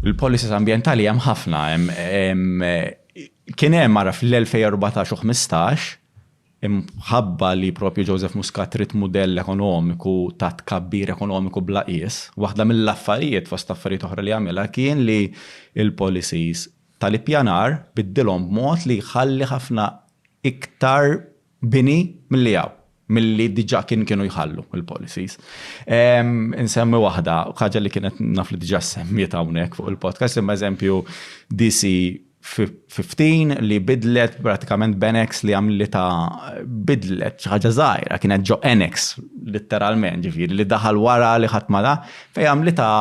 Il-policies ambjentali hemm ħafna. Kien hemm ara fl-2014 u 15 imħabba li propju Joseph Muscat trid mudell ekonomiku ta' tkabbir ekonomiku bla qies, waħda mill-affarijiet fost affarijiet oħra li għamilha kien li l-policies tal-ippjanar biddilhom b'mod li jħalli ħafna iktar bini milli hawn, milli diġà kien kienu jħallu l-policies. Insemmi waħda, ħaġa li kienet naf li diġà semmiet hawnhekk fuq il-podcast, imma eżempju DC 15 li bidlet pratikament Benex li għamli ta' bidlet ċaħġa zaħira, kienet ġo Enex, literalment, ġifiri, li daħal wara li ħatmada, fej għamli ta'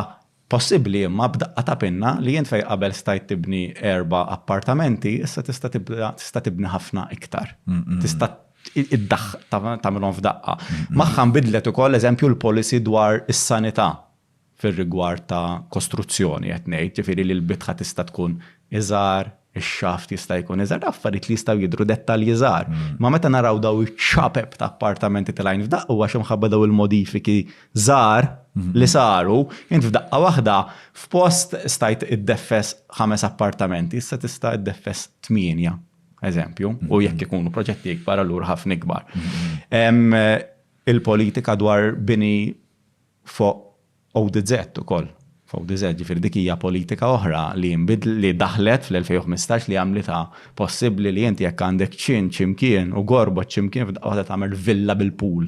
Possibbli imma b'daqqa ta' pinna li int fejn qabel stajt tibni erba' appartamenti, issa tista' tibda tista' tibni ħafna iktar. Tista' iddaħ tagħmilhom f'daqqa. Magħha nbidlet ukoll eżempju l-policy dwar is-sanità fir-rigward ta' kostruzzjoni qed ngħid, ġifieri li l-bitħa tista' tkun iżgħar, ix-xaft jista' jkun iżgħar, ta' affarijiet li jistgħu jidhru dettalji żgħar. Ma meta naraw daw iċ-ċapep ta' appartamenti tal-għajn f'daqqa huwa xi mħabba daw il-modifiki żgħar li saru, int f'daqqa waħda f'post stajt iddeffes ħames appartamenti, issa tista' iddeffes tmienja, eżempju, u jekk ikunu proġetti ikbar allura ħafna ikbar. Il-politika dwar bini fuq ODZ ukoll. F'ODZ, ġifieri dik hija politika oħra li nbidl-, li daħlet fl-2015 li għamlitha possibbli li inti jekk għandek ċin xi mkien u gorbot xi mkien f'daqqa waħda tagħmel villa bil-pool.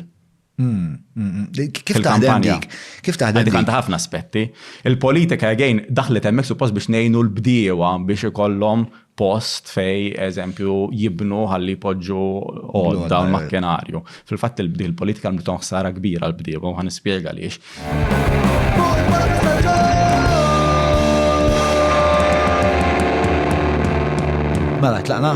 Kif taħdem dik? Kif taħdem dik? Dik għandha ħafna aspetti. Il-politika again daħlet hemmhekk suppost biex ngħinu l-bdiewa biex ikollhom post fej eżempju jibnu ħalli jpoġġu għodda l-makkenarju. Fil-fatt il-politika l-mton ħsara kbira l-bdieba u ħan nispjega għaliex. Mela, tlaqna?